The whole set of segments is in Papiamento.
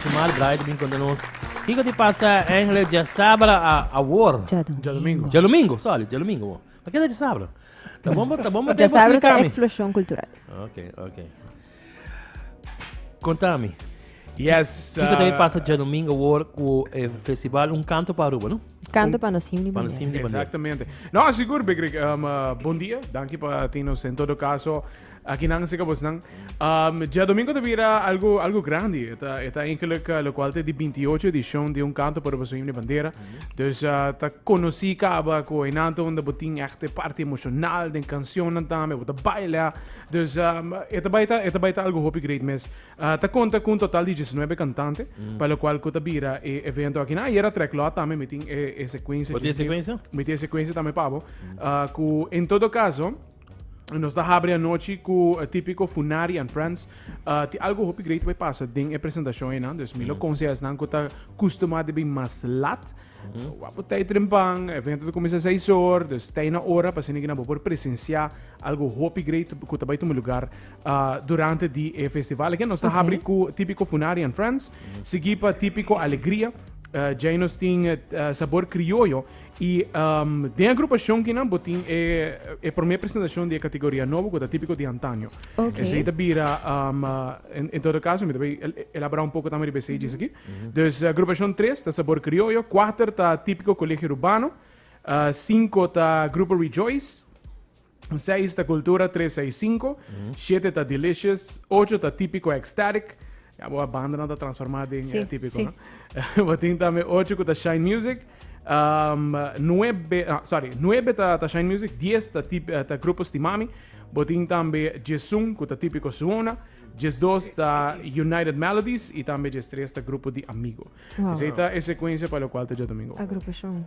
Jamal Bright a bin konta nos kiko tin pasa Engeles djasabra awor. Djadomingo. Djadomingo, sorry, djadomingo awor. Pa keda djasabra? Ta bon bo, ta bon bo den pa splikami. Djasabra ta eksploshon kultural. Ok, ok. Kontami. Yes. Kiko ta pasa djadomingo awor ku e festival Un Kanto pa Aruba, no? Kanto pa nos Himni Bandera. Exactamente. No, sigur, Bikrik. Um, uh, bon dia. Danki pa tin nos en todo kaso. Aki nan si kabosnan. Um, Diadomingo ta bira algo, algo grandi. Eta, eta eigenlijk uh, lokual te di 28 edishon di un kanto por boso himne bandera. Dus uh, ta konosi kaba ko enante onda botin echte parte emosional den kansionan tambe, bo ta baila. Dus um, eta baita, eta baita algo hopi great mes. Uh, ta konta kun total di 19 kantante, pa lokual ko ta bira e evento aki. Na yera trek lot tambe mitin e, e sekuensia. Bo tin 19 sekuensia? Mitin e sekuensia tambe pabo. Uh, ku en todo kaso, Nos ta habri anochi ku típiko Funari and Friends. Uh, ti algo hopi great bai pasa den e presentashon enan. Dus mi lo mm. konsea esnan ku ta kustuma de bin mas lat. Mm. Wapo tei trempan, evento te komisa seis or, dus tei na ora pa sinigi na bo por presensia algo hopi great ku ta bai tumi lugar uh, durante di e festival. Eken nos ta habri ku típiko Funari and Friends. Mm. Sigi pa típiko Alegria. Uh, Jainos tin uh, sabor criollo Y den e agrupacion kinan bo tin e prome presentacion di e categoria nobo cu ta tipico di antaño. Okay. Esey ta bira, um, en, en todo caso, mi ta bay elabora un poco tambe riba esey djis aki. Dus agrupacion tres ta Sabor Criollo, cuater ta Tipico Colegio Rubano, uh, cinco ta Grupo Rejoice, Seis ta cultura, tres seis cinco, siete ta delicious, ocho ta típico ecstatic. Ya bo a banda no ta transformada den sí, eh, típico, sí. no? Botin también ocho ku ta shine music. Um, nuebe, ah, sorry, nuebe ta, ta shine music, diez ta, tip, eh, ta grupo stimami. Botin también Jesun ku ta típico suona. Jes dos ta United Melodies y también Jes tres ta grupo di amigo. Wow. Esa ta e secuencia para lo cual ta Jet Domingo. Agrupación.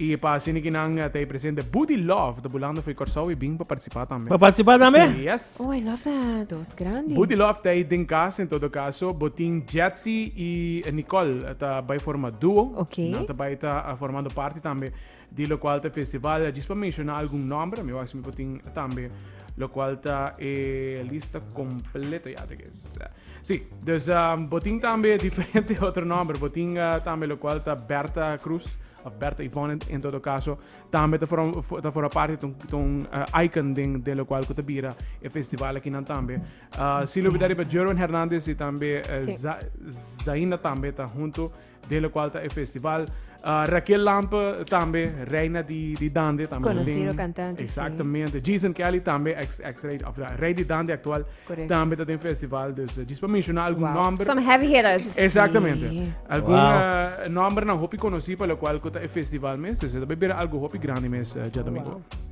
Y pa asina ki nan ta e presente Buddy Love ta bulando for e Corsou y bin pa participa tambe. Pa participa tambe? Sí, yes. Oh, I love that. Dos grandi. Buddy Love ta ey den cas, en todo caso, bo tin Jetsy y Nicole ta bay forma duo. Ok. Nan ta bay ta formando parti tambe di locual ta e festival. Djis pa menciona algun nomber, mi wak si mi por tin tambe locual ta e lista completo ya ta. Sí, dus um, bo tin tambe diferente otro nombre. Bo tin uh, tambe lo cual ta Berta Cruz, of Berta Yvonne en todo caso. Tambe ta forma, ta forma parte ton, ton uh, eh, icon den de lo cual que ta bira e festival aquí nan tambe. Uh, si lo bidari pa Jerwin Hernandez y tambe uh, sí. Za, Zaina tambe ta junto den lokual ta e festival Raquel Lampe tambe reina di di dande tambe konosido kantante exactamente Jason Kelly tambe ex ex rey of rey di dande actual tambe ta den festival dus dus pa menciona algun nomber some heavy hitters exactamente algun wow. nomber na hopi konosi pa lokual kuta e festival mes dus ta bira algo hopi grandi mes ja domingo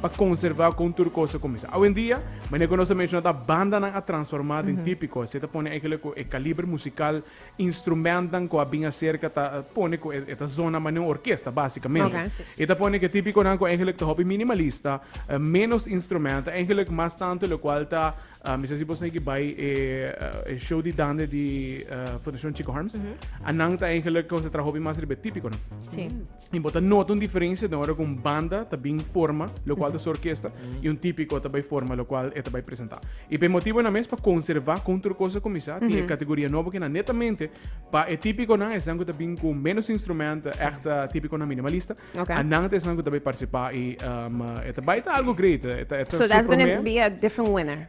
pa conserva con tur cosa cuminsa. Awendia, manera cu nos a menciona ta bandanan a transforma den tipico. Esey ta pone eigenlijk cu e caliber musical, instrumentnan cu a bin acerca ta pone cu e ta zona manera un orkesta basicamente. Oké, sí. E ta pone cu e tipiconan cu eigenlijk ta hopi minimalista, eh, menos instrumenten, eigenlijk mas tanto locual ta, ah, mi sa si bo snigi bay e, eh, e show di dande di, eh, Fundacion Chico Harms, a nan ta eigenlijk concentra hopi mas riba e tipiconan. Sí. Y bo ta nota un diferencia den ora cu un banda ta bin forma, lo cual ta su orquesta, y un tipico ta bay forma, lo cual e ta bay presenta. Y pa e motibonan mes, pa conserva con tur cosa cuminsa, tin e categoria nobo kinan netamente pa e tipiconan, esnan cu ta bin cu menos instrumento, echt tipiconan minimalista, Okay. anan ta esnan cu ta bay participa y um, e ta bay ta algo great. E ta, e ta So that's gonna be a different winner.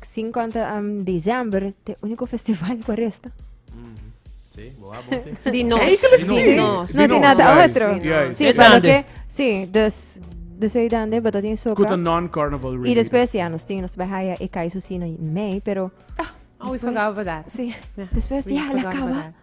50 am december te unico festival cu a resta. Sí, bo a bon sí. Di nos. Eigenlijk sí. Di nos. No di nada Juist, otro. di nos. Sí, Juist. pa lo Dande. que, sí, dus, dus wij dan de batatin Kuta soca. non-carnival Y really. después, ja, nos tin, nos bij haya e kai su sino in mei, pero, Alweer forgot about that. sí, después, We ja, la forgot about cava. that.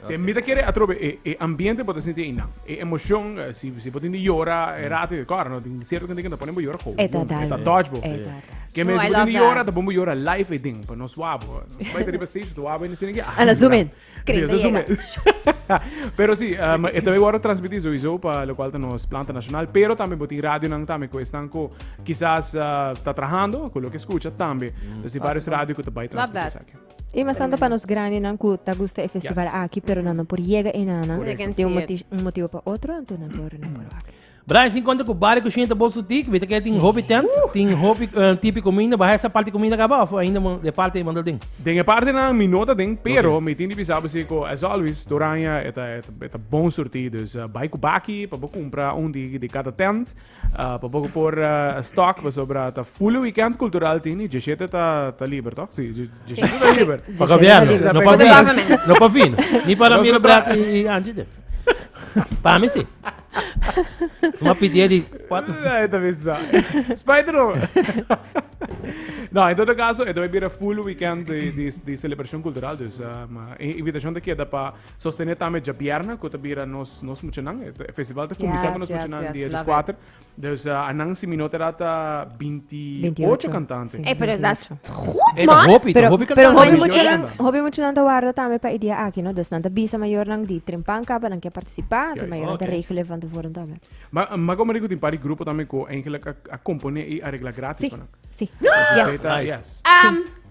Si mi ta kere atrobe e, e ambiente bo ta sinti einan. E emocion, eh, si, si bo tin di yora, e rato, e kor, no, tin cierto gente que ta ponen bo yora gauw. E ta dar. E ta touch bo. E ta dar. Ke men si bo tin di yora, ta pon bo yora live e ding, pa no swa bo. Bai ta riba stage, ta swa bo, en sini ke, ah. Ana zoom in. Kring ta yega. Pero si, um, e tambe worde transmiti sowieso pa lo cual ta nos planta nacional, pero tambe bo tin radio nan tambe ko estan ko quizás uh, ta trahando, ko lo ke escucha tambe. Entonces, si varios radio ko ta bai transmiti esaki. E mas tanto pa nos grandenan ku ta gusta e festival aki pero nan no por yega enanan di un un motibu pa otro anto nan por nan por wak. Brian si konta ku Baria Kushen ta bolso ti ku mita ke tin hopi tent, tin hopi tipi kuminda, bahai esa parti kuminda kaba òf ainda mo e parti mo ta den? Den e partenan mi no ta den pero mi tin di bisa bo si ku as always Toranja e ta e ta bon surti dus bai ku baki pa bo kumpra un di di kada tent. Ah, pa poco por eh, stock, pasobra ta full weekend cultural tin y 17 ta, ta liber, toch? Sí, 17 ta liber. Pa gobierno, no pa Pero vino. government. No pa vino. Ni para Miro Black y, y Angie Dix. Para mí sí. Suma pidie di cuatro. Ay, ta bisa. Spider no. no, en todo caso, esto va a full weekend de, de, de celebración cultural. Dus, um, uh, invitación te queda para Sostené tambe djabierna, ku ta bira nos, nos muchanan. E festival ta kuminsá yes, ku nos yes, muchanan yes, dia 24. Dus uh, anan si minota data 28 kantante. Sí, e, pero dat is goed, e, man. Hopi, pero, hopi pero hopi muchanan, hopi muchanan ta warda tambe pa idea aki, no? Dus nan ta bisa mayor nan di trimpan kapa nan ke participá, te mayor nan te regelen van tevoren tambe. Ma, ma como digo, tin pari grupo tambe ko eigenlijk a, a compone i a regla gratis. Sí, sí. Yes. Yes. Um,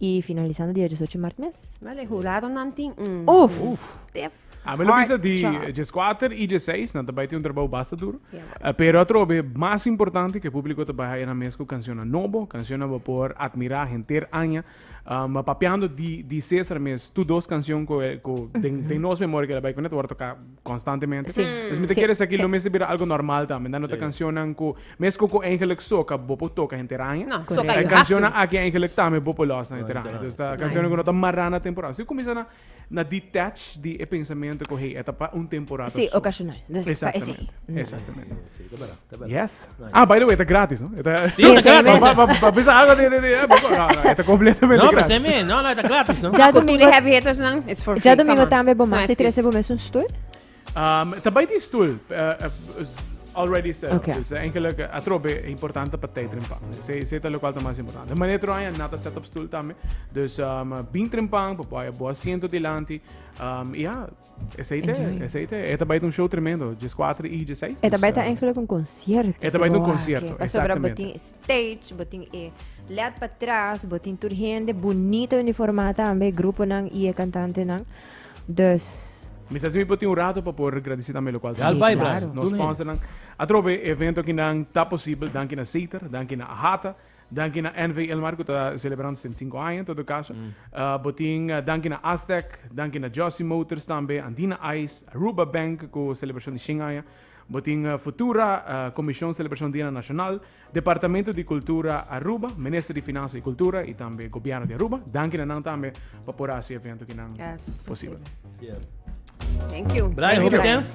Y finalizando dia diesocho mart mes. Wel e huradonan tin un. Uf! Uf! Stiff. A mi lo bisa di Hard job. dieskuater i dieseis nan ta bai tin un trabou basta duru. Ja, bo. Pero atrobe mas importante ke públiko ta bai haña nan mes ku kanshonnan nobo, kanshonnan bo por admirá henter aña. Papiando di di César mes tur dos kanshon ku e ku den den nos memoria ku el a bai kuné ta wòrdu toká. constantemente. Sí. Mm. Esmit'e Sí, kere esaki sí. lo mester bira algo normal tambe. Nan no ta Sí. cancionnan ku mes ku ku eigenlijk soca bo por toca henter aña. No, Correcto. soca Hay you have cancionnan to. aki eigenlijk tambe bo por losa henter aña. Dus ta Nice. cancionnan ku no ta mará na temporada. Si kumisa na na detach di e pensamento ku hey e ta pa un temporada Sí, su. ocasional. Dus pa esei. Exactamente. Exactamente. Sí, ta bera. Yes. Ah, by the way, e ta gratis, no? E ta... Sí, e ta gratis. Pa, pa, pa bisa algo de, de, de, eh, no, no, e ta completamente no, gratis. No, pa se no, no, e ta gratis, no? Ja domingo... heavy hitters, no? It's for free, Ja domingo tambe, bo mati trece bo mes un stoel? Um, ta by di stoel, uh, eh, uh, eh, already said. Okay. Dus eigenlijk uh, atrobe importante pa tijdrimpang. Se se talo kwal mas importante. Mane tro aya nata set up stoel tambe. Dus um, bintrim pang, pa boa asiento dilanti. Um, ja, Ese ahí te, Enjoy. ese ahí te. Esta baita un show tremendo, 14 y 16. Eta dus, baita eh, eigenlijk un concierto. Eta baita un Saboa, concierto, que- Pasobra exactamente. botin stage, botin e led pa tras, botin tur hende bonito uniformada tambe, grupo nan y e cantante nan. Dus, Mi sa si mi poti un rato para poder agradecer también lo cual. Sí, Albay, claro. Blas. Nos Toen sponsor nan. Atrobe evento que nan ta posible, danki na Zeter, danki na Ahata. Danki na NV Ilmar ku ta selebrando su den sinku aña en todo kaso. Bo tin danki na Astec, danki na Jossy Motors tambe, Andina Ice, Aruba Bank ku selebrashon di shin aña. Bo tin Futura, Komishon Selebrashon Dianan Nashonal, Departamento di Kultura Aruba, Minister di Finansa i Kultura i tambe Gobièrnu di Aruba. Danki na nan tambe pa por hasi e evento kinan posibel. Sierto. Thank you. Brian, hopi tens?